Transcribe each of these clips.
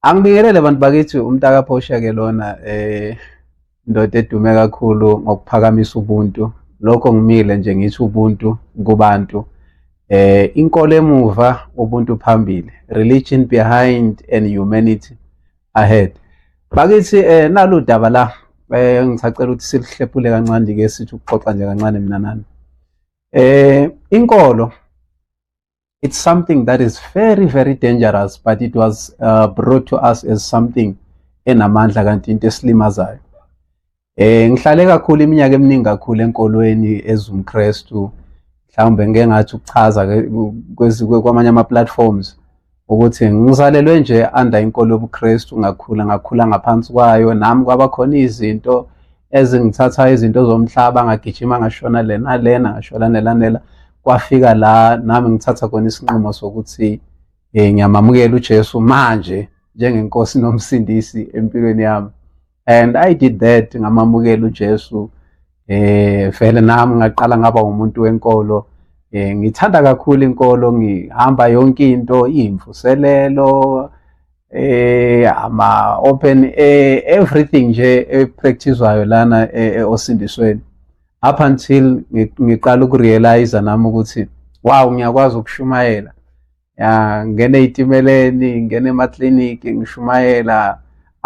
Angibingelele bantu bakithi umntaka Phosha ke lona eh indoda edume kakhulu ngokuphakamisa ubuntu lokho ngimile nje ngithi ubuntu kubantu eh inkolo emuva ubuntu phambili religion behind and humanity ahead bakithi eh nalu daba la eh ngisacela ukuthi silihlephule kancane ke sithi ukuxoxa nje kancane mina nani eh inkolo it's something that is very very dangerous but it was uh, brought to us as something enamandla kanti into esilimazayo eh ngihlale kakhulu iminyaka eminingi kakhulu enkolweni ezumkristu mhlawumbe ngeke ngathi ukuchaza kwamanye ama platforms ukuthi ngizalelwe nje under inkolo yobuKristu ngakhula ngakhula ngaphansi kwayo nami kwabakhona izinto ezingithatha izinto zomhlaba ngagijima ngashona lena lena ngashola nelanela kwafika la nami ngithatha khona isinqumo sokuthi eh ngiyamamukela uJesu manje njengenkosi nomsindisi empilweni yami and i did that ngamamukela uJesu eh vele nami ngaqala ngaba umuntu wenkolo eh ngithanda kakhulu inkolo ngihamba yonke into imvuselelo eh ama open eh, everything nje epracticewayo lana eh, eh, osindisweni up until ngiqala ukurealize nami ukuthi wow ngiyakwazi ukushumayela ya ngene eyitimeleni ngene ema clinic ngishumayela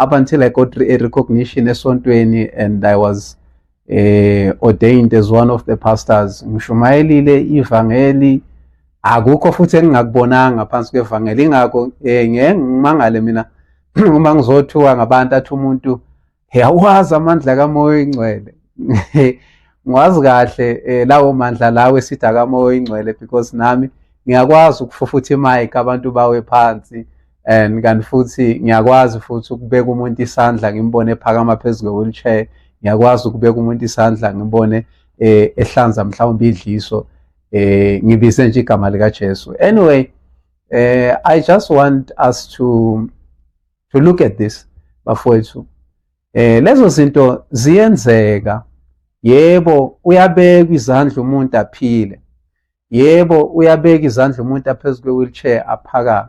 up until i got a recognition esontweni and i was eh ordained as one of the pastors ngishumayelile ivangeli akukho futhi engingakubonanga phansi kwevangeli ingakho eh ngeke ngimangale mina uma ngizothuka ngabantu athi umuntu yawazi amandla kamoya oyingcwele ngwazi kahle eh, lawo mandla lawo esithi akamoya oyingcwele because nami ngiyakwazi ukufufutha imayike abantu bawe phansi and kanti futhi ngiyakwazi futhi ukubeka umuntu isandla ngimbone ephakama phezu kwe-wheelchair ngiyakwazi ukubeka umuntu isandla ngibone eh ehlanza mhlawumbe idliso eh ngibize nje igama lika Jesu anyway eh i just want us to to look at this bafowethu eh lezo zinto ziyenzeka yebo uyabeka izandla umuntu aphile yebo uyabeka izandla umuntu aphezu kwe-wheelchair aphakame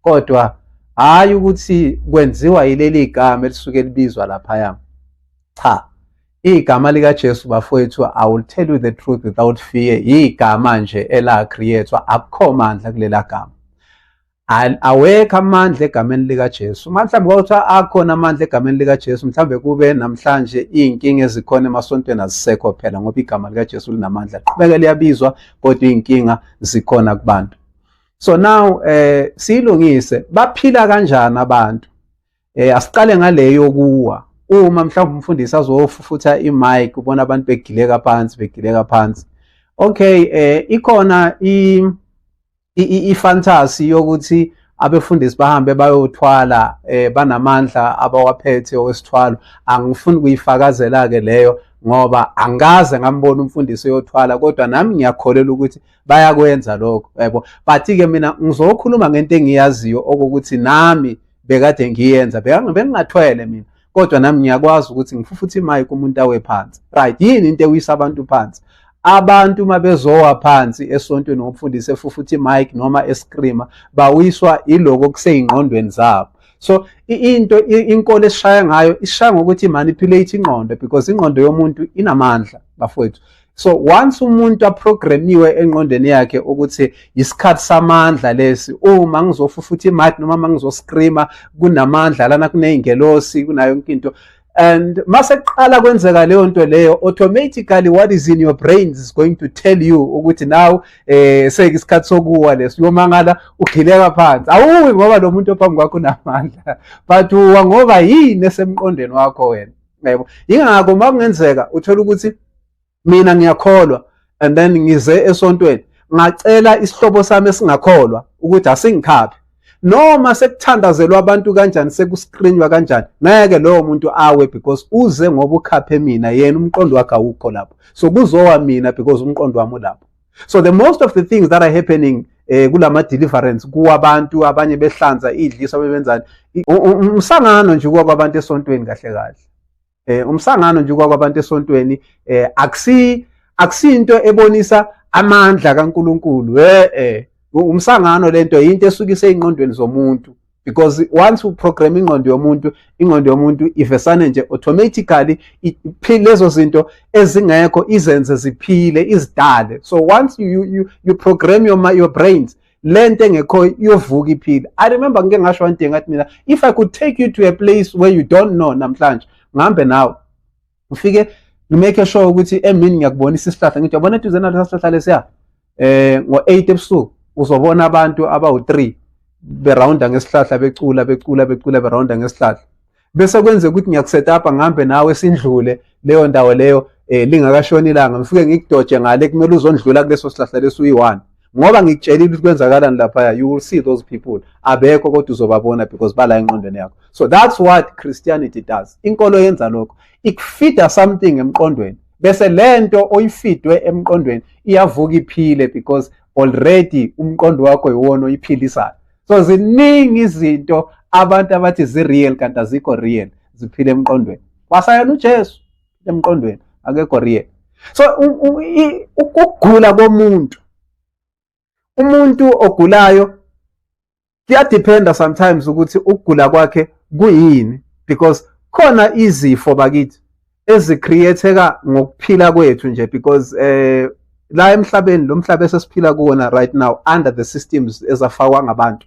kodwa hhayi ukuthi kwenziwa yileli gama elisuke libizwa laphaya cha igama likaJesu bafowethu i will tell you the truth without fear igama nje ela-creatwa akukho mandla kulela gama awekho amandla egameni likaJesu uma mhlawumbe kwakuthiwa akhona amandla egameni likaJesu mhlawumbe kube namhlanje iy'nkinga ezikhona emasontweni azisekho phela ngoba igama likaJesu linamandla qhubeke liyabizwa kodwa iy'nkinga zikhona kubantu so now eh siyilungise baphila kanjani abantu eh asiqale ngaleyo kuwa uma mhlawumbe umfundisi azofufutha imic ubona abantu begileka phansi begileka phansi okay eh ikhona i ifantasy yokuthi abefundisi bahambe bayothwala eh banamandla abawaphethe owesithwalo angifuni kuyifakazela ke leyo ngoba angikaze ngambona umfundisi oyothwala kodwa nami ngiyakholelwa ukuthi bayakwenza lokho yebo but ke mina ngizokhuluma ngento engiyaziyo okokuthi nami bekade ngiyenza bengingathwele mina kodwa nami ngiyakwazi ukuthi ngifufuthe imayike umuntu awe phansi right yini into ewisa abantu phansi abantu uma bezowa phansi esontweni ngomfundisi efufutha imike noma escreama bawiswa iloko kuseyingqondweni zabo so into inkolo esishaya ngayo ishaya ngokuthi manipulate ingqondo because ingqondo yomuntu inamandla bafowethu so once umuntu aprogramiwe engqondweni yakhe ukuthi isikhathi samandla lesi uma ngizofa futhi imadi noma mangizoscreama kunamandla lana kuneyingelosi kunayo yonke into and mase kuqala kwenzeka leyo nto leyo automatically what is in your brain is going to tell you ukuthi now eh seke isikhathi sokuwa leso uyomangala ugileka phansi awuwi ngoba lo muntu ophambi kwakho unamandla but uwa ngoba yini esemqondweni wakho wena yebo yingakho uma kungenzeka uthola ukuthi mina ngiyakholwa and then ngize esontweni ngacela isihlobo sami esingakholwa ukuthi asingikhaphe noma sekuthandazelwa abantu kanjani sekuskrinywa kanjani ngeke lowo muntu awe because uze ngoba ukhaphe mina yena umqondo wakhe awukho lapho so kuzowa mina because umqondo wami ulapho so the most of the things that are happening eh kulama deliverance kuwabantu abanye behlanza idliso bebenzani umsangano nje kwabantu esontweni kahle kahle eh umsangano nje kwabantu esontweni eh akusi akusinto ebonisa amandla kaNkuluNkulu eh eh umsangano lento into esukise inqondweni zomuntu because once u program ingqondo yomuntu ingqondo yomuntu ivesane nje automatically lezo zinto ezingekho izenze ziphile izidale so once you you you program your your brains lento engekho iyovuka iphile i remember ngike ngasho one thing ngathi mina if i could take you to a place where you don't know namhlanje ngihambe nawe ufike ngimake sure ukuthi emini ngiyakubonisa isihlahla ngithi yabona eduze nalesa sihlahla lesiya eh ngo-8 ebusuku uzobona abantu abawu-3 berawunda ngesihlahla becula becula becula berawunda ngesihlahla bese kwenze ukuthi ngiyakusetapa ngihambe nawe sindlule leyo ndawo leyo eh lingakashoni ilanga ngifike ngikudoje ngale kumele uzondlula kuleso sihlahla leso uyi-one ngoba ngikutshelile ukuthi kwenzakalani laphaya you will see those people abekho kodwa uzobabona because bala enqondweni yakho so that's what christianity does inkolo yenza lokho ikufida something emqondweni bese lento oyifidwe emqondweni iyavuka iphile because already umqondo wakho yiwona oyiphilisayo so ziningi izinto abantu abathi zi-real kanti azikho real ziphile emqondweni kwasayena ujesu emqondweni akekho real so ukugula komuntu umuntu ogulayo kuyadiphenda sometimes ukuthi ukugula kwakhe kuyini because khona izifo bakithi ezicreateka ngokuphila kwethu nje because eh la emhlabeni lo mhlaba esesiphila kuwona right now under the systems ezafakwa ngabantu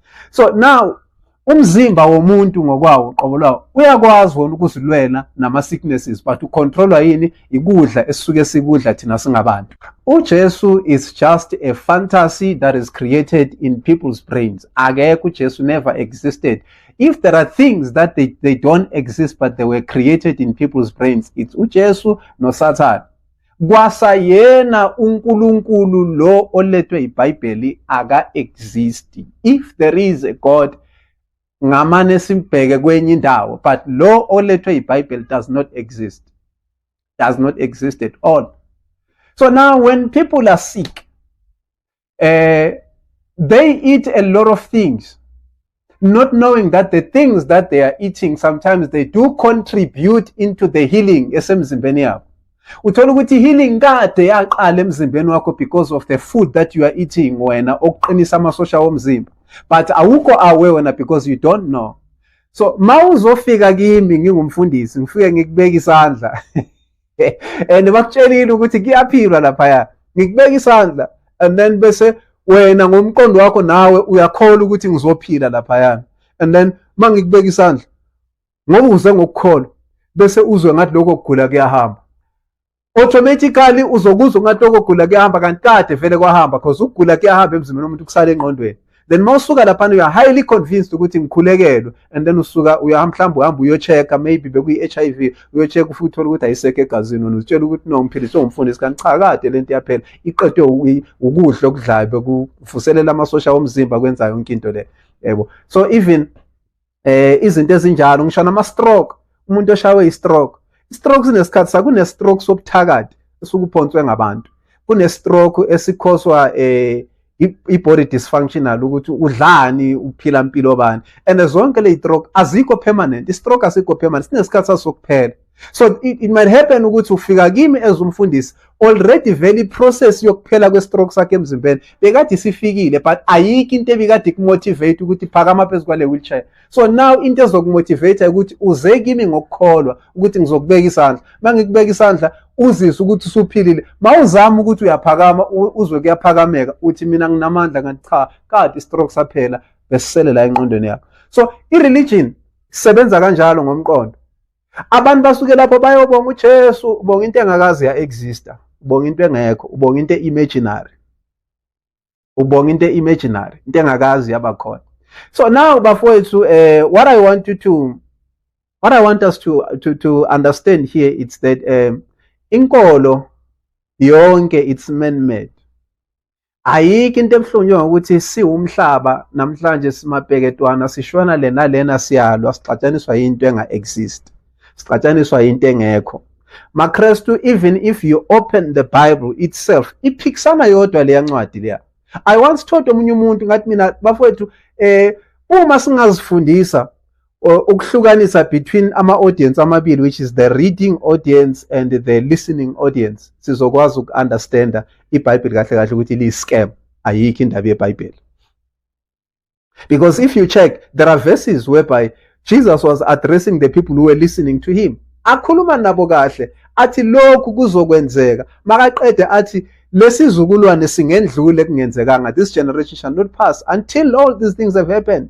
so now umzimba womuntu ngokwawo qobo lwawo uyakwazi wona ukuzilwela nama-sicknesses but ucontrolwa yini ikudla esisuke sikudla thina singabantu ujesu is just a fantasy that is created in people's brains akekho ujesu never existed if there are things that they, they don't exist but they were created in people's brains it's ujesu nosathane kwasayena uNkulunkulu lo olethwe iBhayibheli aka exist if there is a god ngamane simbheke kwenye indawo but lo olethwe iBhayibheli does not exist does not exist at all so now when people are sick uh, they eat a lot of things, not knowing that the things that they are eating sometimes they do contribute into the healing esemzimbeni yabo. Uthola ukuthi healing kade yaqala emzimbeni wakho because of the food that you are eating wena okuqinisa amasosha omzimba. But awukho aware wena because you don't know. So mawuzofika kimi ngingumfundisi ngifike ngikubeka isandla and bakutshelile ukuthi kuyaphilwa laphaya ngikubeka isandla and then bese wena ngomqondo wakho nawe uyakholwa ukuthi ngizophila laphayana and then uma ngikubeka isandla ngoba uze ngokukholwa bese uzwe ngathi lokho kugula kuyahamba automatically uzokuzwa ngathi lokho kugula kuyahamba kanti kade vele kwahamba because ukugula kuyahamba emzimbeni womuntu kusala engqondweni then uma usuka laphana uya highly convinced ukuthi ngikhulekelwe and then usuka uya mhlawumbe uhamba uyochecka maybe bekuyi-HIV uyochecka ufike uthole ukuthi ayisekho egazini wena uzitshela ukuthi no ngiphilise ungumfundisi kanti cha kade le nto iyaphela iqedwe ukudla okudlayo bekuvuselela amasosha omzimba kwenza yonke into le yebo so even eh izinto ezinjalo ngisho nama stroke umuntu oshawe i stroke i stroke sinesikhathi sakune stroke sobuthakathi esukuphonswe ngabantu kune stroke esikhoswa eh i-body dysfunctional ukuthi udlani uphila impilo bani and zonke le stroke azikho permanent i-stroke asikho permanent sinesikhathi sasokuphela so it, it might happen ukuthi ufika kimi as umfundisi already vele iprocess yokuphela kwestroke sakhe emzimbeni bekade isifikile but ayikho into ebikade kumotivate ukuthi phakama phezu kwale wheelchair so now into ezokumotivate ukuthi uze kimi ngokukholwa ukuthi ngizokubeka isandla uma ngikubeka isandla uzizwe ukuthi usuphilile mawuzama ukuthi uyaphakama uzwe kuyaphakameka uthi mina nginamandla kanti cha kade istroke saphela besisele la enqondweni yakho so i-religion isebenza kanjalo ngomqondo abantu basuke lapho bayobonga uJesu ubonga into engakazi ya exista ubonga into engekho ubonga into imaginary ubonga into imaginary into engakazi yabakhona so now bafowethu eh what i want you to what i want us to to to understand here it's that um inkolo yonke it's man made ayikho into ebuhlungu ukuthi siwumhlaba namhlanje simabheketwana sishona lena lena siyalwa sixatshaniswa into enga exist sixatshaniswa into engekho makrestu even if you open the bible itself iphikisana yodwa leya ncwadi leya i once told omunye umuntu ngathi mina bafowethu eh uma singazifundisa ukuhlukanisa between ama audience amabili which is the reading audience and the listening audience sizokwazi ukunderstanda iBhayibheli kahle kahle ukuthi li scam ayikho indaba yeBhayibheli because if you check there are verses whereby Jesus was addressing the people who were listening to him akhuluma nabo kahle athi lokhu kuzokwenzeka makaqede athi lesizukulwane singendlule kungenzekanga this generation shall not pass until all these things have happened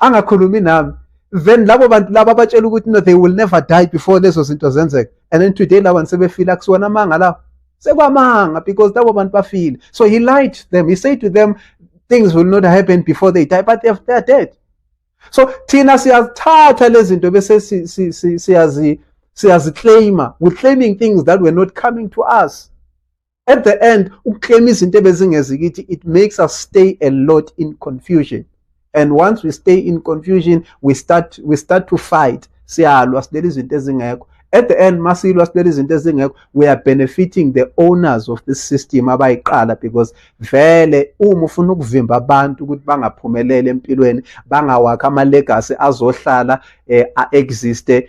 angakhulumi nami then labo bantu laba abatshela ukuthi no they will never die before lezo zinto zenzeka and then today laba bantu sebefile akusiwona amanga lawo sekwamanga because labo bantu bafile so he lied to them he said to them things will not happen before they die but they are, they are dead so thina siyazithatha lezi zinto bese siyazi siyaziclaima we're claiming things that were not coming to us at the end ukuclaim izinto ebezingeziyo ukuthi it makes us stay a lot in confusion and once we stay in confusion we start we start to fight siyalwa silele izinto ezingekho at the end masilwa silele izinto ezingekho we are benefiting the owners of this system abayiqala because vele uma ufuna ukuvimba abantu ukuthi bangaphumeleli empilweni bangawakha ama legacy azohlala eh, a existe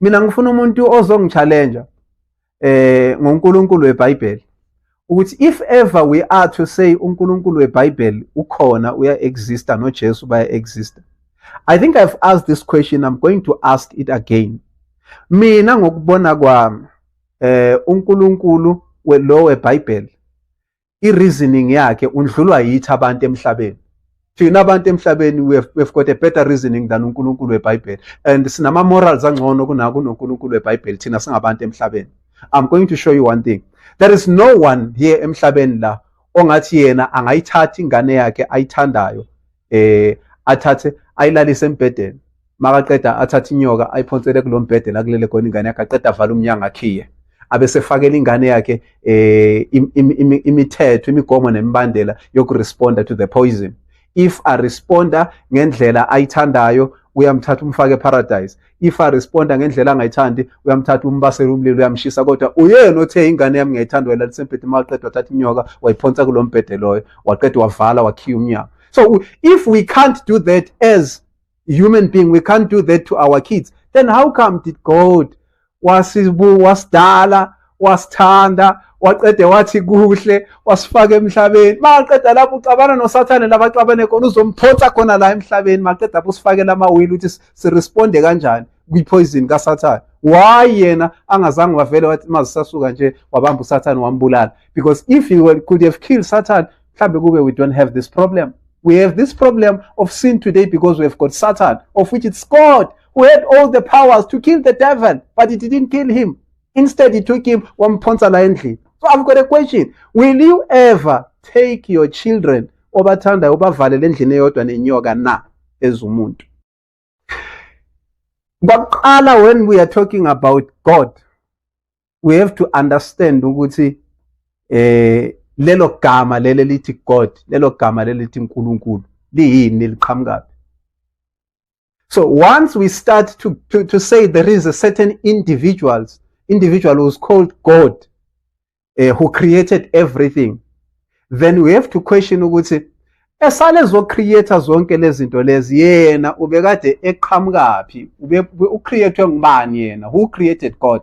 mina ngifuna umuntu ozongichallenja eh ngoNkulunkulu weBhayibheli ukuthi if ever we are to say uNkulunkulu weBhayibheli ukhona uya exista noJesu baya exista I think I've asked this question I'm going to ask it again mina ngokubona kwami eh uNkulunkulu lo weBhayibheli i-reasoning yakhe undlulwa yithi abantu emhlabeni thina abantu emhlabeni we've got a better reasoning than uNkulunkulu weBhayibheli and sinama morals angcono kunako uNkulunkulu weBhayibheli thina singabantu emhlabeni i'm going to show you one thing there is no one here emhlabeni la ongathi yena angayithatha ingane yakhe ayithandayo eh athathe ayilalise embhedeni makaqeda athathe inyoka ayiphonsele kulo mbhede la kulele khona ingane yakhe aqeda avala umnyango akhiye abesefakela ingane yakhe eh imithetho imigomo nemibandela yokuresponda to the poison if a responder ngendlela ayithandayo uyamthatha umfake eparadise if aresponda ngendlela angayithandi uyamthatha umbasela umlilo uyamshisa kodwa uyena othe ingane yami ngiyayithanda wayilalisa embhedeni uma waqeda wathatha inyoka wayiphonsa kulo mbhede loyo waqeda wavala wakhiya umnyango so if we can't do that as human being we can't do that to our kids then how come did god wasidala wasithanda waqede wathi kuhle wasifaka emhlabeni maqeda lapho uxabana nosathane labaxabane khona uzomphonsa khona la emhlabeni maqeda lapho usifakela amawili ukuthi siresponde kanjani kwipoison kasathane why yena angazange wavele wathi mazisasuka nje wabamba usathane wambulala because if you were, could have killed satan mhlawumbe kube we don't have this problem we have this problem of sin today because we have got satan of which it's god who had all the powers to kill the devil but he didn't kill him instead he took him wamphonsa la endlini so i've got a question will you ever take your children obathandayo ubavalele endlini eyodwa nenyoka na ezumuntu kwakuqala when we are talking about god we have to understand ukuthi eh lelo gama leli lithi god lelo gama leli lithi unkulunkulu liyini liqhamukaphi so once we start to, to, to say there is a certain individuals individual who's called god uh, who created everything then we have to question ukuthi esale zocreator zonke lezinto lezi yena ubekade eqhamukaphi ucreatwe ngubani yena who created god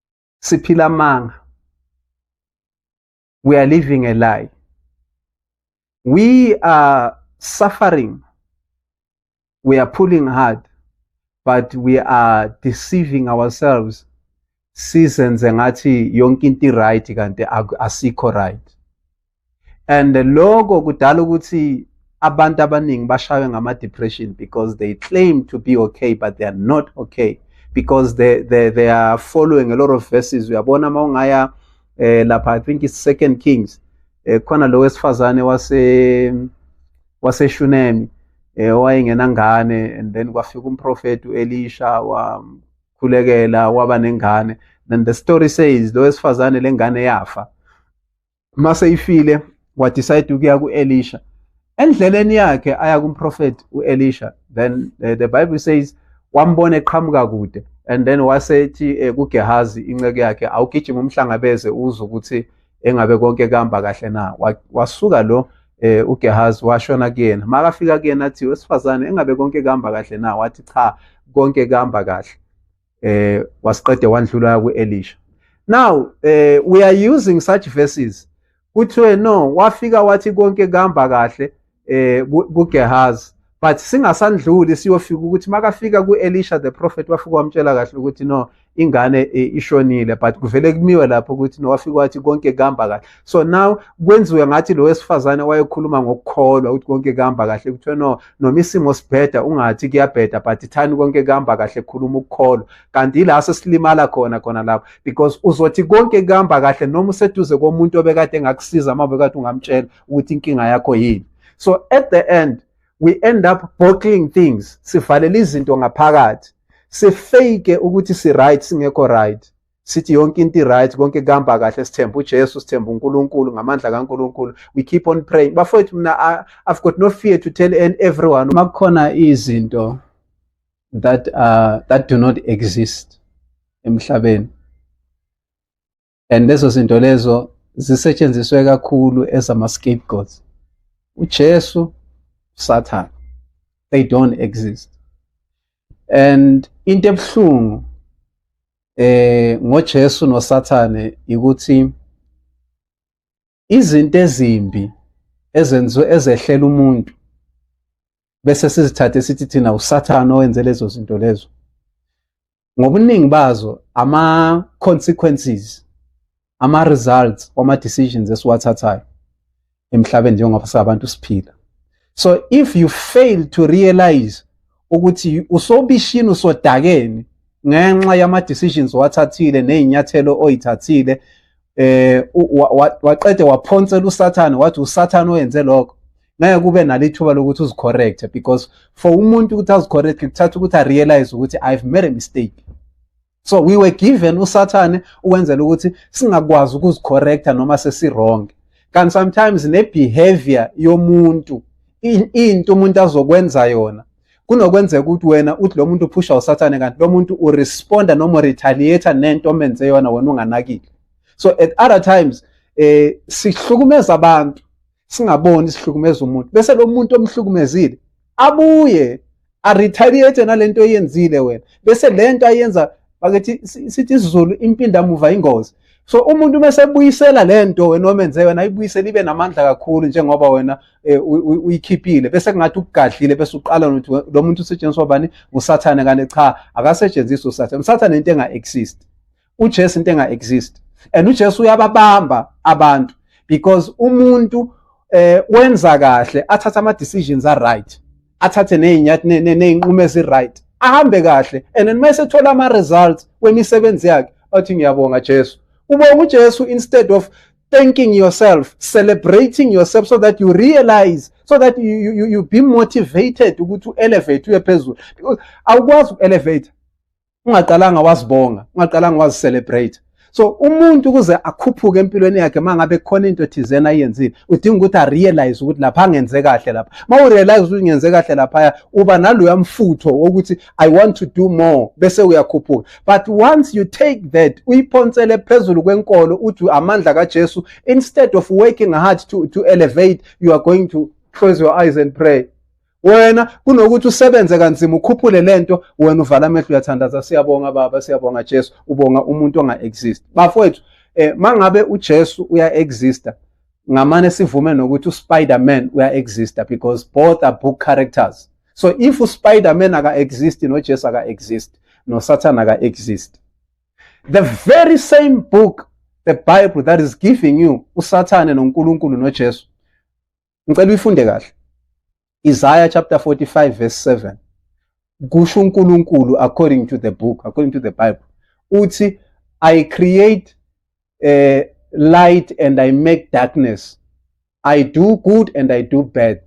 siphila amanga we are living a lie we are suffering we are pulling hard but we are deceiving ourselves sizenze ngathi yonke into right kanti asikho right and lokho kudala ukuthi abantu abaningi bashaywe ngama-depression because they claim to be okay but they are not okay because they, they, they are following a lot of verses uyabona uma ungaya eh, lapha i think it's second kings eh, khona lo wesifazane wase waseshunemi eh, owayengenangane and then kwafika umprofethi u-elisha wamkhulekela waba nengane then the story says lo wesifazane lengane yafa uma seyifile wadecide ukuya ku-elisha endleleni yakhe aya kumprofethi u-elisha then uh, the bible says wambona eqhamuka kude and then wasethi uh, eh, kugehazi inceku yakhe awugijima umhlangabeze uze ukuthi engabe konke kuhamba kahle na wasuka lo eh uGehazi washona kuyena makafika kuyena athi wesifazane engabe konke kuhamba kahle na wathi cha konke kuhamba kahle eh wasiqede wandlula kuElisha now eh we are using such verses kuthiwe no wafika wathi konke kuhamba kahle eh kuGehazi but singasandluli siyofika ukuthi makafika kuElisha the prophet wafika wamtshela kahle ukuthi no ingane eh, ishonile but kuvele kumiwe lapho ukuthi no wafika wathi konke kuhamba kahle so now kwenziwe ngathi lo wesifazane wayekhuluma ngokukholwa ukuthi konke kuhamba kahle kuthiwa no noma isimo sibheda ungathi kuyabheda but thani konke kuhamba kahle khuluma ukukholwa kanti yila sesilimala khona khona lapho because uzothi konke kuhamba kahle noma useduze komuntu obekade engakusiza uma bekade ungamtshela ukuthi inkinga yakho yini so at the end we end up bottling things sivalela izinto ngaphakathi sifake ukuthi si right singekho right sithi yonke into i-right konke kuhamba kahle sithemba ujesu sithemba unkulunkulu ngamandla kankulunkulu we keep on praying bafowethu mina i've got no fear to tell everyone uma kukhona izinto that, uh, that do not exist emhlabeni and lezo zinto lezo zisetshenziswe kakhulu ezama-scapegoats ujesu usathane they don't exist and into ebuhlungu eh ngoJesu noSathane ukuthi izinto ezimbi ezenziwe ezehlela umuntu bese sizithathe sithi thina uSathane owenze lezo zinto lezo ngobuningi bazo ama consequences ama results wama decisions esiwathathayo emhlabeni njengoba sabantu siphila so if you fail to realize ukuthi usobishini usodakeni ngenxa yama decisions wathathile nezinyathelo oyithathile eh waqede waphonsela usathane wathi usathane oyenze lokho ngeke kube nalithuba lokuthi uzicorrecte because for umuntu ukuthi azicorrecte kuthatha ukuthi arealize ukuthi i've made a mistake so we were given usathane ukwenzela ukuthi singakwazi ukuzicorrecta noma sesiwrong kanti sometimes nebehavior yomuntu into umuntu azokwenza yona kunokwenzeka ukuthi wena uthi lo muntu uphusha usathane kanti lo muntu uresponda noma uretaliate nento omenze yona wena unganakile so at other times eh sihlukumeza abantu singaboni sihlukumeza umuntu bese lo muntu omhlukumezile abuye aretaliate nalento eyenzile wena bese lento ayenza bakithi sithi isizulu impinda muva ingozi so umuntu uma sebuyisela lento wena omenze wena ayibuyisele ibe namandla kakhulu njengoba wena eh, uyikhiphile bese kungathi ukugadlile bese uqala nokuthi lo muntu usetshenziswa bani ngusathane kanti cha akasetshenziswa usathane usathane into enga exist uJesu into enga exist and uJesu uyababamba abantu because umuntu eh wenza kahle athatha ama decisions a right athathe nezinyathi nezinqumo ezi right ahambe kahle and then mase thola ama results wemisebenzi yakhe athi ngiyabonga Jesu ubonga uJesu instead of thanking yourself celebrating yourself so that you realize so that you, you, you be motivated ukuthi u-elevate uye phezulu because awukwazi uku-elevate ungaqalanga wazibonga ungaqalanga wazicelebrate so umuntu ukuze akhuphuke empilweni yakhe mangabe khona into thizena ayenzile udinga ukuthi arealize ukuthi lapha angenze kahle lapha ma urealize ukuthi ngenze kahle laphaya uba naloya mfutho wokuthi i want to do more bese uyakhuphuka but once you take that uyiphonsele phezulu kwenkolo uthi amandla kaJesu instead of working hard to to elevate you are going to close your eyes and pray wena kunokuthi usebenze kanzima ukhuphule lento wena uvala amehlo uyathandaza siyabonga baba siyabonga Jesu ubonga umuntu onga exist bafowethu eh mangabe uJesu uya exista ngamane sivume nokuthi uSpider-Man uya exista because both are book characters so if uSpider-Man aka exist noJesu aka exist noSathana aka exist the very same book the bible that is giving you uSathane noNkulunkulu noJesu ngicela uyifunde kahle Isaiah chapter 45 verse 7 kusho uNkulunkulu according to the book according to the bible uthi i create uh, light and i make darkness i do good and i do bad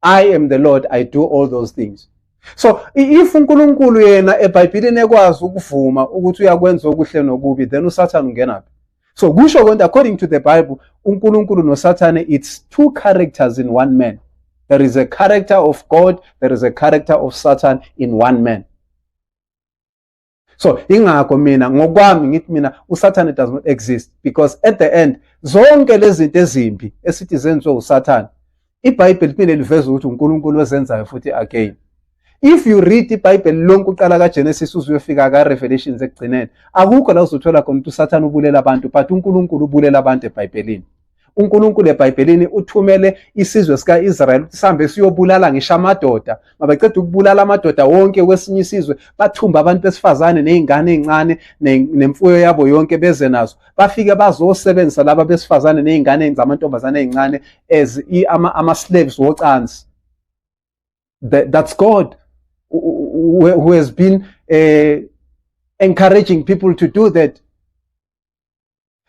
i am the lord i do all those things so if uNkulunkulu yena eBhayibhelini ekwazi ukuvuma ukuthi uyakwenza okuhle nokubi then uSathane ungena phi so kusho konke according to the bible unkulunkulu nosathane it's two characters in one man there is a character of god there is a character of satan in one man so ingakho mina ngokwami ngithi mina usathane does not exist because at the end zonke lezi zinto ezimbi esithi zenziwe usathane ibhayibheli liphinde liveze ukuthi unkulunkulu ozenzayo futhi again if you read ibhayibheli lonke uqala kagenesis uze uyofika karevelations ekugcineni akukho la uzothola khona ukuthi usathane ubulela abantu but unkulunkulu ubulela abantu ebhayibhelini uNkulunkulu eBhayibhelini uthumele isizwe sika-Israyeli ukuthi sihambe siyobulala ngisho amadoda mabaqeda ukubulala amadoda wonke kwesinye isizwe bathumba abantu besifazane nezingane ezincane nemfuyo yabo yonke beze nazo bafike bazosebenzisa laba besifazane nezingane zamantombazane ezincane as ama, ama slaves wocansi That, that's god who, who has been uh, encouraging people to do that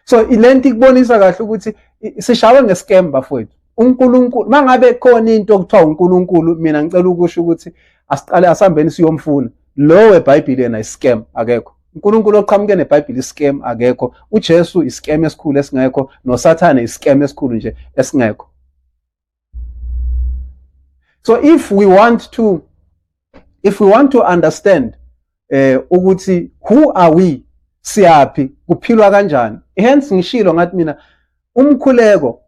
so le nto ikubonisa kahle ukuthi sishawe ngescam bafowethu uNkulunkulu mangabe khona into okuthiwa uNkulunkulu mina ngicela ukusho ukuthi asiqale asambeni siyomfuna lo weBhayibheli yena iscam akekho uNkulunkulu oqhamuke neBhayibheli iscam akekho uJesu iscam esikhulu esingekho noSathane iscam esikhulu nje esingekho so if we want to if we want to understand eh ukuthi who are we siyaphi kuphilwa kanjani hence ngishilo ngathi mina umkhuleko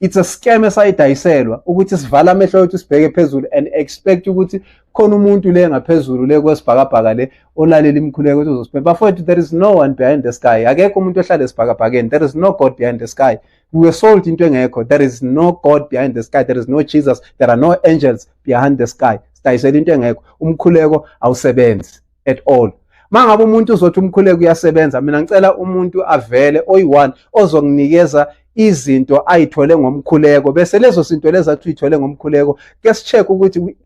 it's a scam esayidayiselwa ukuthi sivala amehlo wethu sibheke phezulu and expect ukuthi khona umuntu le ngaphezulu le kwesibhakabhaka le olalela imikhuleko ukuthi uzosiphetha bafowethu there is no one behind the sky akekho umuntu ohlala esibhakabhakeni there is no god behind the sky We were sold into engekho. There is no God behind the sky. There is no Jesus. There are no angels behind the sky. Sidayisela into engekho. Umkhuleko awusebenzi at all. Mangabe umuntu uzothi umkhuleko uyasebenza, mina ngicela umuntu avele oyi-one ozokunikeza izinto ayithole ngomkhuleko bese lezo zinto lezi athi uyithole ngomkhuleko ke si-check ukuthi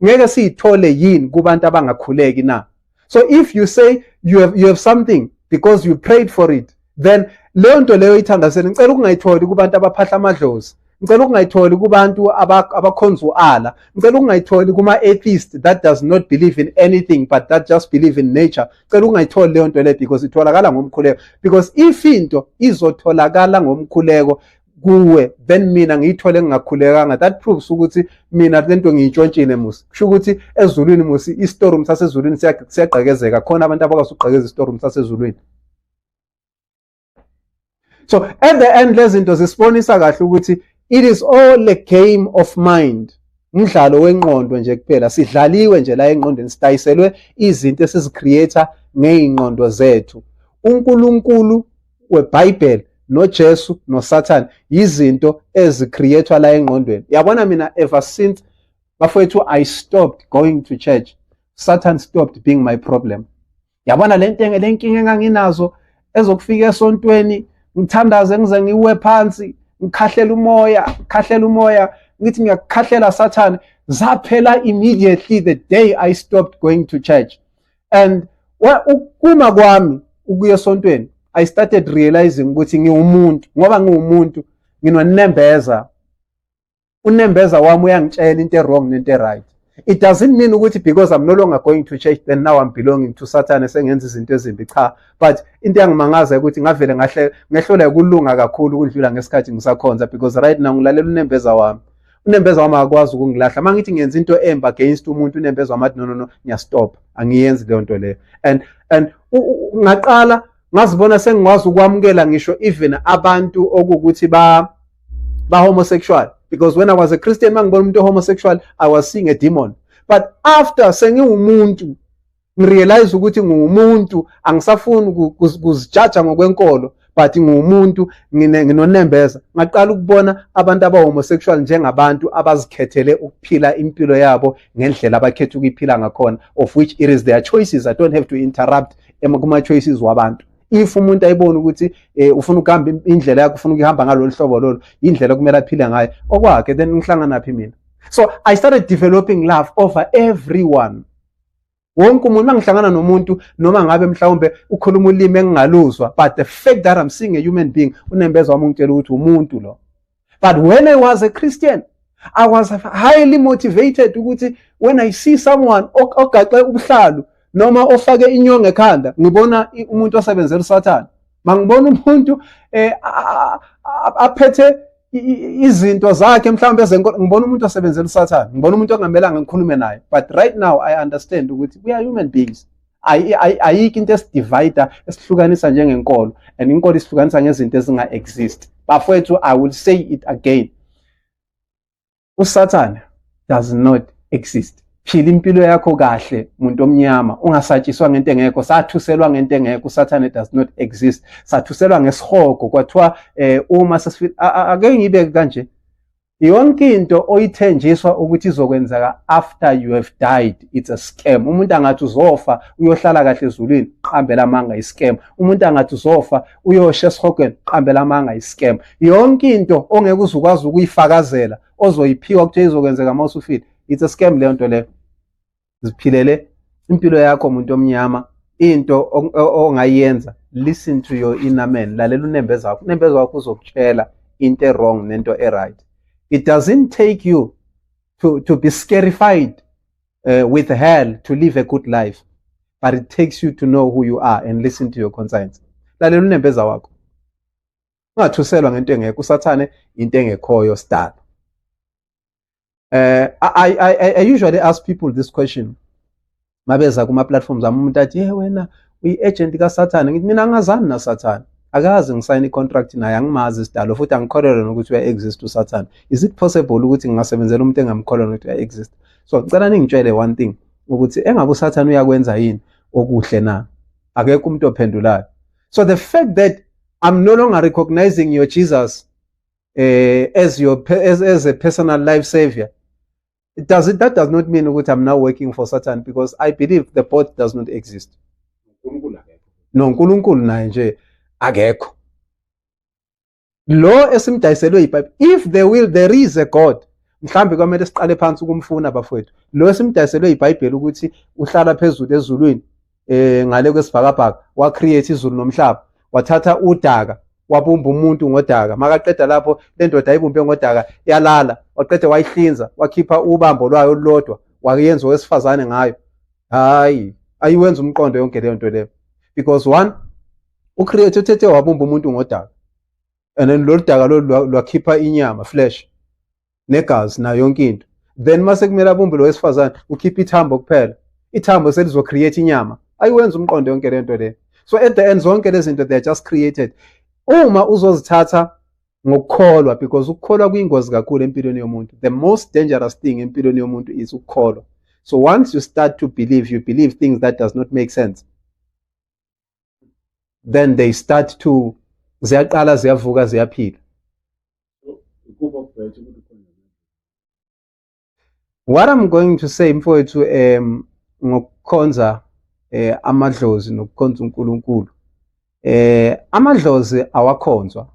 ngeke siyithole yini kubantu abangakhuleki na so if you say you have, you have something because you prayed for it then leyo nto leyo ithandazeni ngicela ukungayitholi kubantu abaphahla amadlozi ngicela ukungayitholi kubantu abakhonza u-ala ngicela ukungayitholi kuma-atheist that does not believe in anything but that just believe in nature ngicela ukungayitholi leyo nto leyo because itholakala ngomkhuleko because if into izotholakala ngomkhuleko kuwe then mina ngiyithole ngingakhulekanga that proves ukuthi mina lento ngiyintshontshile musi kusho ukuthi ezulwini musi istorum sasezulwini siyagqekezeka khona abantu abakwazi ukugqekeza istorum sasezulwini so at the end lezinto zisibonisa kahle ukuthi it is all a game of mind umdlalo wenqondo nje kuphela sidlaliwe nje la enqondweni sidayiselwe izinto esizicreator ngeyinqondo zethu uNkulunkulu weBhayibheli noJesu noSathane yizinto ezicreatwa la engqondweni yabona mina ever since bafowethu I stopped going to church Satan stopped being my problem yabona le nto le nkinga enganginazo ezokufika esontweni ngithandaze ngize ngiwe phansi ngikhahlela umoya ngikhahlela umoya ngithi ngiyakukhahlela sathane zaphela immediately the day i stopped going to church and ukuma kwami ukuya esontweni i started realizing ukuthi ngiwumuntu ngoba ngiwumuntu nginonembeza unembeza wami uyangitshela into e-wrong nento e-right it doesn't mean ukuthi because i'm no longer going to church then now i'm belonging to satan esengenza izinto ezimbi cha but into yangimangaza ukuthi ngavele ngahle ngehlole ukulunga kakhulu ukudlula ngesikhathi ngisakhonza because right now ngilalela unembeza wami unembeza wami akakwazi ukungilahla uma ngithi ngenza into embi against umuntu unembeza wami athi no no no ngiyastop angiyenzi leyo nto leyo and and ngaqala ngazibona sengikwazi ukwamukela ngisho even abantu okukuthi ba ba homosexual because when i was a christian mangibona umuntu homosexual i was seeing a demon but after sengiwumuntu ngirealize ukuthi ngumuntu angisafuni kuzijaja ngokwenkolo but ngumuntu nginonembeza ngaqala ukubona abantu abahomosexual njengabantu abazikhethele ukuphila impilo yabo ngendlela abakhetha ukuyiphila ngakhona of which it is their choices i don't have to interrupt kuma-choices wabantu if umuntu ayibona ukuthi eh, ufuna ukuhamba indlela yakho ufuna ukuhamba ngalolu hlobo lolu indlela kumele aphile ngayo okwakhe then ngihlanganaphi mina so i started developing love over everyone wonke umuntu mangihlangana nomuntu noma ngabe mhlawumbe ukhuluma ulimi engingaluzwa but the fact that i'm seeing a human being unembeza wami ungitshela ukuthi umuntu lo but when i was a christian i was highly motivated ukuthi when i see someone ogaxe ubuhlalu noma ofake inyongo ekhanda ngibona umuntu osebenzela usathane mangibona umuntu eh aphethe izinto zakhe mhlawumbe ezenkolo ngibona umuntu osebenzela usathane ngibona umuntu ongamelanga ngikhulume naye but right now i understand ukuthi we are human beings ayikho into esidivida esihlukanisa njengenkolo and inkolo isihlukanisa ngezinto ezinga-exist bafowethu i will say it again usathane does not exist phila impilo yakho kahle muntu omnyama ungasatshiswa ngento engekho sathuselwa ngento engekho usathane does not exist sathuselwa ngesihogo kwathiwa eh, uma ake ngibe kanje yonke into oyithenjiswa ukuthi izokwenzeka after you have died it's a scam umuntu angathi uzofa uyohlala kahle ezulwini qambela amanga iscam umuntu angathi uzofa uyosho esihogweni uqambela amanga iscam yonke into ongeke uze ukwazi ukuyifakazela ozoyiphiwa kuthiwa izokwenzeka uma usufile it's a scam leyo nto leyo ziphilele impilo yakho muntu omnyama into ongayenza listen to your inner man lalela unembeza wakho unembeza wakho uzokutshela into e-wrong nento e-right it doesn't take you to, to be scarified uh, with hell to live a good life but it takes you to know who you are and listen to your conscience lalela unembeza wakho ungathuselwa ngento engekho usathane into engekhoyo sidala eh I, I, I, I usually ask people this question mabeza kuma platforms ami umuntu athi hey wena uyi agent ka Satan ngithi mina ngazani na Satan akazi ngisayina i-contract naye angimazi isidalo futhi angikholelwa nokuthi uya-exist usathane is it possible ukuthi ngingasebenzela umuntu engamkholelwa nokuthi uya-exist so cela ningitshele one thing ukuthi engabe usathane uyakwenza yini okuhle na akekho umuntu ophendulayo so the fact that i'm no longer recognizing your jesus eh, as your as, as a personal life savior it does it that does not mean ukuthi i'm now working for satan because i believe the both does not exist no uNkulunkulu naye nje akekho lo esimdayiselwe iBhayibheli if there will there is a God mhlambe kwamele siqale phansi ukumfuna bafowethu lo esimdayiselwe iBhayibheli ukuthi uhlala phezulu ezulwini eh ngale kwesibhakabhaka wa create izulu nomhlaba wathatha udaka wabumba umuntu ngodaka makaqeda lapho le ndoda ayibumbe ngodaka yalala waqeda wayihlinza wakhipha ubambo lwayo olulodwa wayenza owesifazane ngayo hayi ayiwenza umqondo yonke leyo nto leyo because one ucreate uthethe wabumba umuntu ngodaka and then lolu daka lolu lwakhipha inyama flesh negazi nayo yonke into then mase kumele abumbe lo wesifazane ukhipha ithambo kuphela ithambo selizocreate inyama ayiwenza umqondo yonke le nto le so at the end zonke lezi zinto they are just created uma uzozithatha ngokukholwa because ukukholwa kuyingozi kakhulu empilweni yomuntu the most dangerous thing empilweni yomuntu is ukukholwa so once you start to believe you believe things that does not make sense then they start to ziyaqala ziyavuka ziyaphila what i'm going to say mfowethu um ngokukhonza eh amadlozi nokukhonza uNkulunkulu eh amadlozi awakhonzwa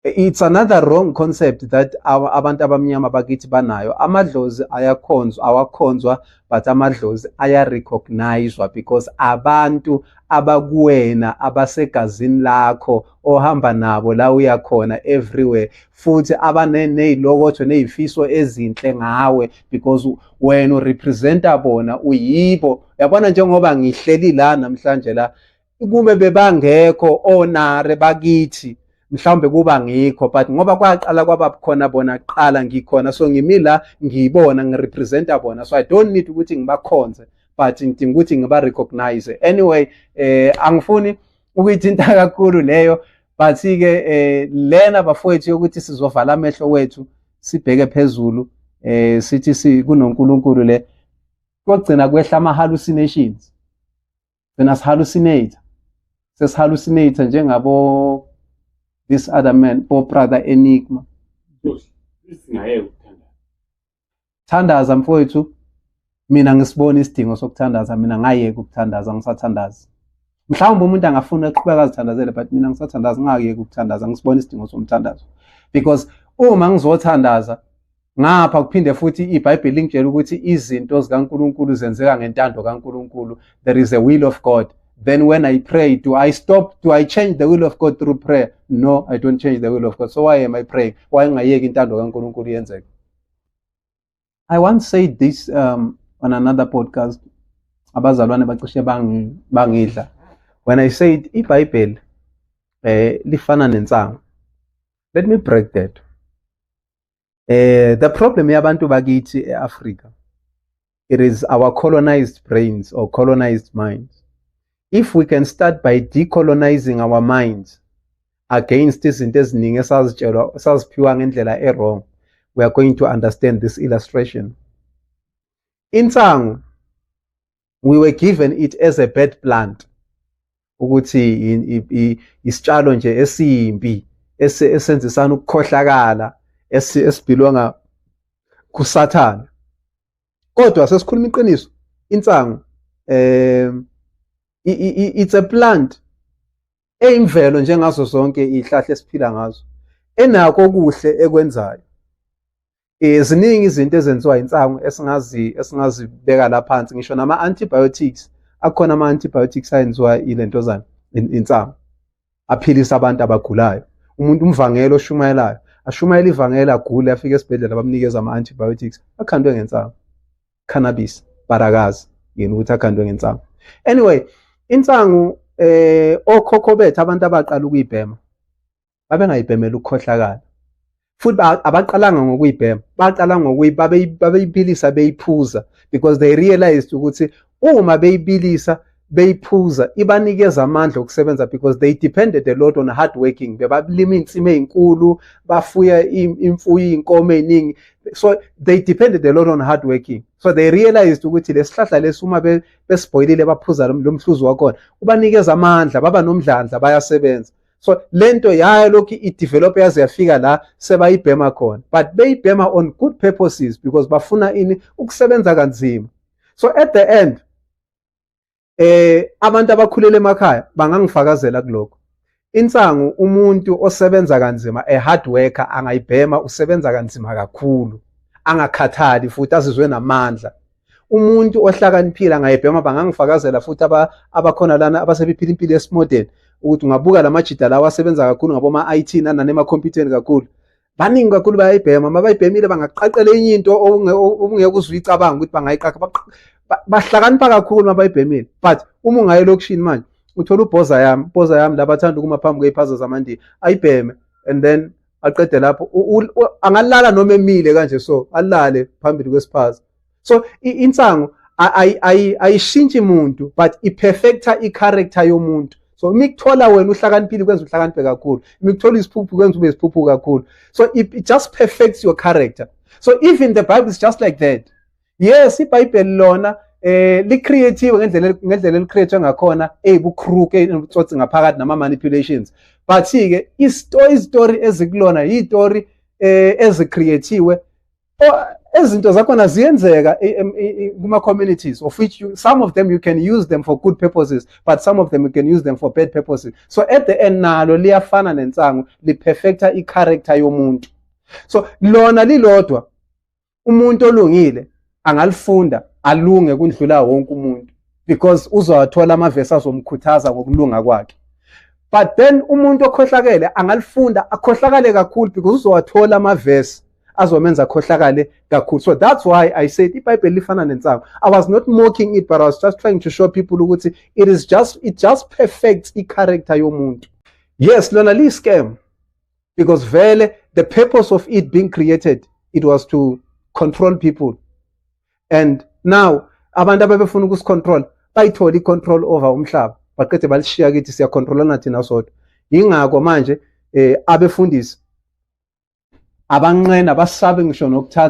it's another wrong concept that abantu abamnyama bakithi banayo amadlozi ayakhonzwa awakhonzwa but amadlozi ayarecognizwa because abantu abakuwena abasegazini lakho ohamba nabo la uyakhona everywhere futhi abanezilokotho nezifiso ezinhle ngawe because wena urepresenta bona uyibo yabona njengoba ngihleli la namhlanje la ukube bebangekho onare bakithi mhlawumbe kuba ngikho but ngoba kwaqala kwaba khona bona kuqala ngikhona so ngimi la ngiyibona ngirepresenta bona so i don't need ukuthi ngibakhonze but ngidinga ukuthi ngiba-recognize anyway eh angifuni ukuyithinta kakhulu leyo but-ke eh lena bafowethu yokuthi sizovala amehlo wethu sibheke phezulu eh sithi kunonkulunkulu le kogcina kwehla ama-hallucinations Gcina sihalucinate. Sesihalucinate njengabo this other man, bo brother Enigma. Singayeke ukuthandaza. Thandaza mfowethu. Mina ngisibona isidingo sokuthandaza, mina ngayeka ukuthandaza, ngisathandaza. Mhlawumbe umuntu angafuna ukuqhubeka azithandazele but mina ngisathandaza ngingayeki ukuthandaza, ngisibona isidingo somthandazo. Because uma ngizothandaza Ngapha kuphinde futhi iBhayibheli lingitshela ukuthi izinto zikaNkulunkulu zenzeka ngentando kaNkulunkulu. There is a will of God. Then when I pray, do I stop? Do I change the will of God through prayer? No, I don't change the will of God. So why am I praying? Why ngayeki intando kaNkulunkulu yenzeke? I once said this um, on another podcast. Abazalwane bacishe bangidla. When I said iBhayibheli eh lifana nensangu. Let me break that. eh the problem yabantu bakithi eAfrica it is our colonized brains or colonized minds if we can start by decolonizing our minds against izinto eziningi esazitshelwa esaziphiwa ngendlela ewrong we are going to understand this illustration insangu we were given it as a bad plant ukuthi isitshalo nje esimbi esenzisana ukukhohlakala esibhilonga kusathana kodwa sesikhuluma iqiniso insangu um it's a plant eyimvelo njengazo zonke izihlahla esiphila ngazo enako okuhle ekwenzayo Eh ziningi izinto ezenziwa insangu esingazi esingazibeka la phansi ngisho nama antibiotics akhona ama antibiotics ayenziwa ilentozana insangu aphilisa abantu abagulayo umuntu umvangelo oshumayelayo ashumayela ivangeli agule afike esibhedlela bamnikeza ama antibiotics akhandwe ngensangu cannabis barakazi yini ukuthi akhandwe ngensangu anyway insangu eh okhokho bethu abantu abaqala ukuyibhema babengayibhemela ukukhohlakala futhi abaqalanga ngokuyibhema baqala ngokuyibabeyibilisa beyiphuza because they realized ukuthi uma beyibilisa beyiphuza ibanikeza amandla okusebenza because they depended a lot on hard working bebalima insima ezinkulu bafuya imfuyo inkomo eziningi so they depended a lot on hard working so they realized ukuthi lesihlahla lesi uma besibhoyilile baphuza lomhluzi wakhona ubanikeza amandla baba nomdlandla bayasebenza so lento yayo lokhu idevelop yaze yafika la sebayibhema khona but beyibhema on good purposes because bafuna ini ukusebenza kanzima so at the end eh abantu abakhulele emakhaya bangangifakazela kuloko insangu umuntu osebenza kanzima a hard worker angayibhema usebenza kanzima kakhulu angakhathali futhi azizwe namandla umuntu ohlakaniphile angayibhema bangangifakazela futhi abakhona lana abasebephila impilo yesimodeni ukuthi ungabuka la majida lawo asebenza kakhulu ngaboma-i t nanani emakhompyutheni kakhulu baningi kakhulu bayayibhema uma bayibhemile bangaqaqela enye into obungeke uzwe uyicabanga ukuthi bangayiqaqa bahlakanipha kakhulu uma bayibhemile but uma ungaye elokishini manje uthola ubhoza yami ubhoza yami labathanda ukuma phambi kwey'phaza zamandini ayibheme and then aqede lapho angalala noma emile kanje so alale phambili kwesiphaza so insangu ayishintshi muntu but iperfecta i-character yomuntu so uma ikuthola wena uhlakaniphile kwenza uhlakaniphe kakhulu uma ikuthola isiphuphu kwenza ube isiphuphu kakhulu so it, it just perfects your character so even the bible is just like that yes ibhayibheli lona eh licreative ngendlela ngendlela elicreate ngakhona eyibukhruke eh, enobutsotsi ngaphakathi nama manipulations but ke istory story ezikulona yistory eh ezicreatiwe ezinto zakhona ziyenzeka kuma communities of which you, some of them you can use them for good purposes but some of them you can use them for bad purposes so at the end nalo liyafana nensangu liperfecta i character yomuntu so lona lilodwa umuntu olungile angalifunda alunge kundlula wonke umuntu because uzowathola amavesi azomkhuthaza ngokulunga kwakhe but then umuntu okhohlakele angalifunda akhohlakale kakhulu because uzowathola amavesi azomenza akhohlakale kakhulu so that's why i said ibhayibheli lifana nensangu i was not mocking it but i was just trying to show people ukuthi it is just it just perfects i-character yomuntu yes lona liyi-scam because vele the purpose of it being created it was to control people and now abantu ababefuna ukusicontrol bayithole icontrol over umhlaba baqede balishiya kithi siyacontrolana thina sodwa yingakho manje eh abefundisi abanqena basabe ngisho nokuthatha